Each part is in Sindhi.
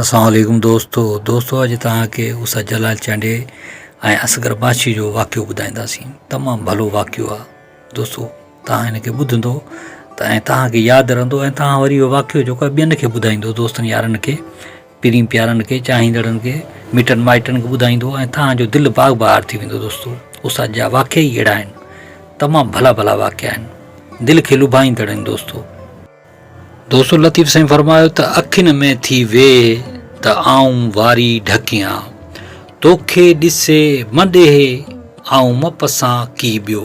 اسلام عليڪم دوستو دوستو اڄ توهان کي اس جلال چانڊيي ۽ اصغر باشي جو واقعو ٻڌائينداسين تمام ڀلو واقعو آ دوستو توهان ان کي ٻڌندو ته ۽ توهان کي ياد رهندو ۽ توهان وري واقعو جيڪو آ ٻين کي ٻڌائيندو دوستن يارن کي پرين پيارن کي، چاهيندڙن کي، مٽن مائٽن کي ٻڌائيندو ۽ توهان جو دل باغ بهار ٿي ويندو دوستو استاد جا واقعا ئي اهڙا آهن تمام ڀلا ڀلا واقعا آهن دل کي لڀائيندڙ آهن دوستو. دوستو لطيف سائين فرمايو ته اکين ۾ ٿي ويهه ته آئون واري ڍڪيان توکي ڏسي م ڏيهه آئون م پسان ڪي ٻيو.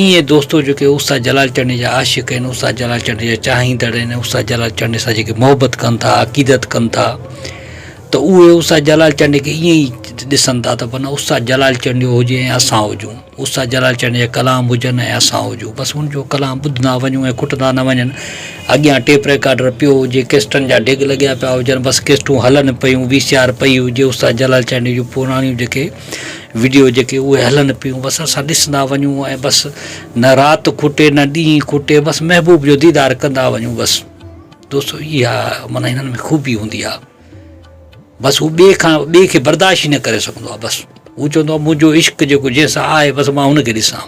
ايئن دوستو جيڪي استاد جلال چنڙي جا عاشق آهن استاد جلال چنڙي جا چاهيندڙ آهن استاد جلال چنڙي سان جيڪي محبت ڪن ٿا عقيدت ڪن ٿا ته اهي استاد جلال چنڙي کي ايئن ئي ڏسن ٿا ته بنا استاد جلال چنڙيو هجي ۽ اسان هجون استاد جلال چنڙي جا ڪلام هجن ۽ اسان هجون بس ان جو ڪلام ٻڌندا وڃون ۽ کٽندا نه وڃن اڳيان ٽيپ ريڪارڊر پيو هجي ڪيسٽن جا ڊگ لڳيا پيا هجن بس ڪيسٽون هلن پيون وي سي آر پئي هجي استاد جلال چنڙي جون پراڻيون جيڪي وڊيو جيڪي اهي هلن پيون بس اسان ڏسندا وڃون ۽ بس نه رات کوٽي نه ڏينهن کوٽي بس محبوب جو ديدار ڪندا وڃون بس دوستو اها مانا هنن ۾ خوبي هوندي آ بس هو ٻئي کان ٻئي کي برداشت ئي نه ڪري سگهندو آ بس هو چوندو آ منهنجو عشق جيڪو جنهن سان آهي بس مان هن کي ڏسان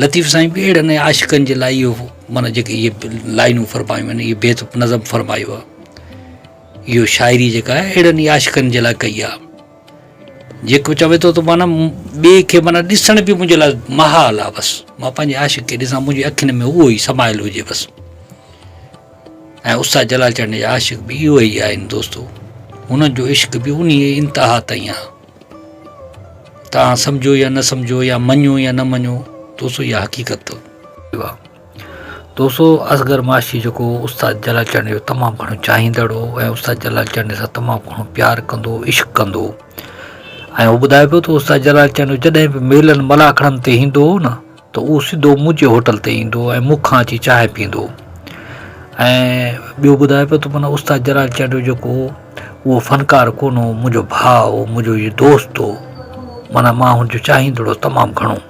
لطيف سائين به اهڙن عاشقن جي لاء اهو مانا جيڪي اهي لائنون فرمايون آهن اهي بيت نظم فرمايو آ اهو شاعري جيڪا آهي اهڙن ئي عاشقن جي لاء ڪئي آهي. جيڪو چوي ٿو ته معنيٰ ٻئي کي معنيٰ ڏسڻ به منهنجي لاء محال آهي بس مان پنهنجي عاشق کي ڏسان منهنجي اکين ۾ اهو ئي سمايل هجي بس. ۽ استاد جلال چرڻي جا عاشق به اهي ئي آهن دوستو هنن جو عشق به انهي انتها تائين آهي. توهان سمجهو يا نه سمجهو يا مڃو يا نه مڃو دوستو اها حقيقت اٿو. توسو اصغر معاشي جيڪو استاد جلال چانڊيو جو تمام گهڻو چاهيندڙ هو ۽ استاد جلال چانڊيو سان تمام گهڻو پيار ڪندو هو عشق ڪندو هو ۽ هو ٻڌائي پيو ته استاد جلال چانڊيو جڏهن به ميلن ملاکڙن تي ايندو هو نه ته اهو سڌو منهنجي هوٽل تي ايندو هو ۽ مون کان اچي چانهه پيئندو هو ۽ ٻيو ٻڌائي پيو ته معنيٰ استاد جلال چانڊيو جيڪو هو اهو فنڪار ڪونه هو منهنجو ڀاء هو منهنجو هي دوست هو معنيٰ مان هن جو چاهيندڙ هوس تمام گهڻو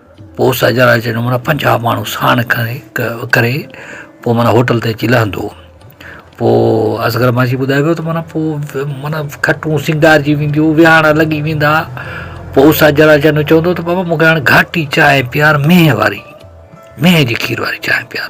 پوء ساجهه راڄ جو معنيٰ پنجاهه ماڻهو ساڻ کڻي ڪري پوء معنيٰ هوٽل تي اچي لهندو پوء اصغر مانجهي ٻڌائي ويو ته معنيٰ پوء معنيٰ کٽون سينگارجي وينديون ويهاڻا لڳي ويندا پوء ساجهه راڄ جو چوندو ته بابا مون کي هاڻ گهاٽي چانهه پيار مينهن واري مينهن جي کير واري چانهه پيار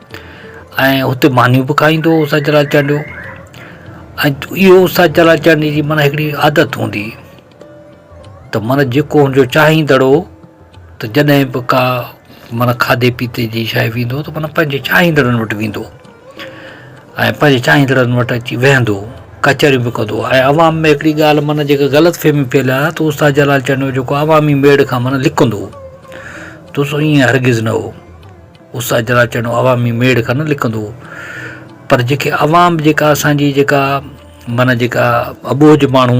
۽ اتي مانيون به کائيندو هو سچل آچاريو ۽ اهو سچل آچاريو جي معنيٰ هڪڙي عادت هوندي هئي ته معنيٰ جيڪو هن جو چاهيندڙ هو ته جڏهن به ڪا معنيٰ کاڌي پيتي جي شاء ويندو هو ته معنيٰ پنهنجي چاهيندڙن وٽ ويندو هو ۽ پنهنجي چاهيندڙن وٽ اچي ويهندو هو ڪچهريون به ڪندو هو ۽ عوام ۾ هڪڙي ڳالهه معنيٰ جيڪا غلط فهمي ڦهليل آهي ته استاد جلال چانڊيو جيڪو عوامي ميڙ کان معنيٰ لڪندو هو ته سو ائين هرگز نه هو اس اجرا چيڻو عوامي ميڙ کان نه لڪندو هو پر جيڪي عوام به جيڪا اسان جي جيڪا معنيٰ جيڪا اٻوجهه ماڻهو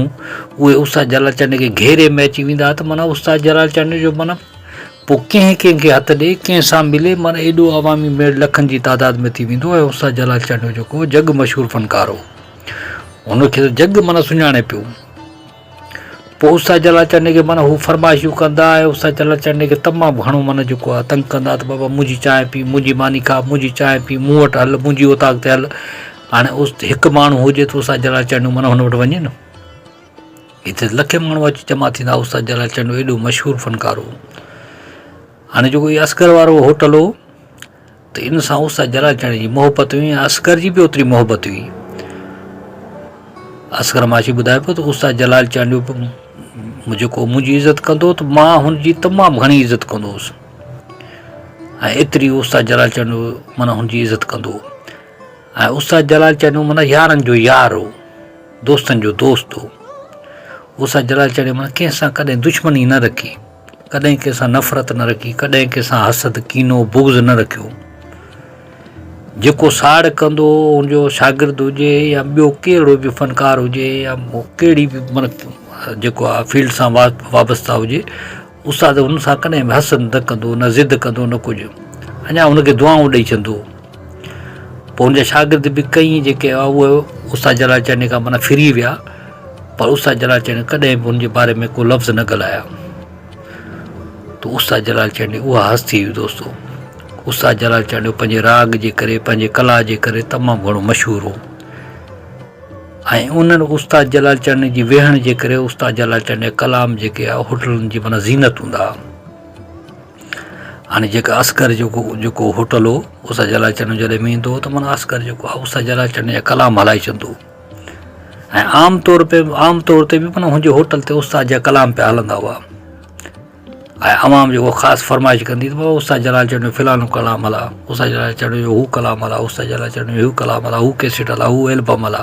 اهي اس جلال چانڊيو کي گهيري ۾ اچي ويندا هئا ته معنيٰ اس جلال چانڊيو جو معنيٰ پوء ڪنهن ڪنهن کي هٿ ڏي ڪنهن سان ملي معنيٰ ايڏو عوامي ميڙ لکن جي تعداد ۾ ٿي ويندو ۽ اس جلال چانڊيو جيڪو جڳ مشهور فنڪار هو هن کي جڳ معنيٰ سڃاڻي پيو پوء اس سان جلا چڙھڻي کي معنيٰ ھو فرمائشون ڪندا ۽ اس سان جلا چڙھڻي کي تمام گھڻو معنيٰ جيڪو آھي تنگ ڪندا ته بابا منھنجي چانھه پي منھنجي ماني کا منھنجي چانھه پي مون وٽ ھل منھنجي اوطاق تي ھل ھاڻي اس ھڪ ماڻھو ھجي ته اس سان جلا چڙھڻو معنيٰ ھن وٽ وڃي نه ھتي لکين ماڻھو اچي جمع ٿيندا اس سان جلا چڙھڻو ايڏو مشھور فنڪار ھو ھاڻي جيڪو ھي اصغر وارو ھوٽل ھو ته ان سان استاد جلال چاڻي جي محبت هئي ۽ اصغر جي به اوتري محبت هئي. اصغر معاشي ٻڌائي پيو ته استاد جلال چانڊيو به جيڪو منهنجي عزت ڪندو هو ته مان هن جي تمام گهڻي عزت ڪندو هوس ۽ ايتري استاد جلال چانڊيو معنيٰ هن جي عزت ڪندو هو ۽ استاد جلال چانڊيو معنيٰ يارن جو يار هو دوستن جو دوست هو استاد جلال چانڊيو معنيٰ ڪنهن سان ڪڏهن دشمني نه رکي ڪڏهن ڪنهن سان نفرت نه رکي، ڪڏهن ڪنهن سان حسد، ڪينو، بغض نه رکيو. جيڪو ساڙ ڪندو ان جو شاگرد هجي يا ٻيو ڪهڙو به فنڪار هجي يا ڪهڙي به من جيڪو آ فيلڊ سان وابسته هجي استاد ان سان ڪڏهن به حسد نه ڪندو نه ضد ڪندو نه ڪجهه اڃا ان کي دعائون ڏئي چندو. پوء ان جا شاگرد به ڪئين جيڪي اهي استاد جلال چانڊيو کان معنيٰ ڦري ويا پر استاد جلال چانڊيو ڪڏهن به ان جي باري ۾ ڪو لفظ نه ڳالهايا تو استاد جلال چانڊيو اها هستي هئي دوستو استاد جلال چانڊيو پنهنجي راڳ جي ڪري پنهنجي ڪلا جي ڪري تمام گهڻو مشهور هو ۽ انهن استاد جلال چانڊيو جي ويهڻ جي ڪري استاد جلال چانڊيو ڪلام جيڪي هوٽلن جي معنيٰ زينت هوندا هاڻي جيڪا اصغر جو جيڪو هوٽل هو اسان جي لاء چينو جڏهن به ايندو هو ته مانا اصغر جيڪو هو اسان جي لاء چيني جا ڪلام هلائي ڇڏيندو هو ۽ عام طور پي عام طور تي بي مانا هن جي هوٽل تي استاد جا ڪلام پيا هلندا هئا ۽ عوام جيڪو خاص فرمائش ڪندي هئي ته استاد جلال چينو جو فلانو ڪلام هلا استاد جلال چينو جو هو ڪلام هلا استاد جلال چينو جو هو ڪلام هلا هو ڪيسٽ هلا هو ايلبم هلا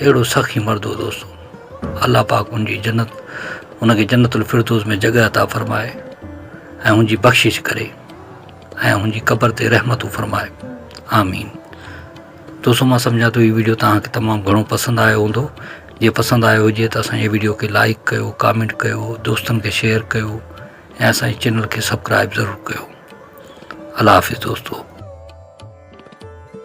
اهڙو سخي مرد هو دوستو الله پاڪ ان جي جنت ان کي جنت الفردوس ۾ جڳهه عطا فرمائي ۽ ان جي بخشش ڪري ۽ ان جي قبر تي رحمتون فرمائي آمين دوستو مان سمجھان ٿو هي ويڊيو توهان کي تمام گھڻو پسند آيو هوندو جي پسند آيو هجي ته اسان جي ويڊيو کي لائڪ ڪيو ڪامينٽ ڪيو دوستن کي شيئر ڪيو ۽ اسان جي چينل کي سبسڪرائب ضرور ڪيو الله حافظ دوستو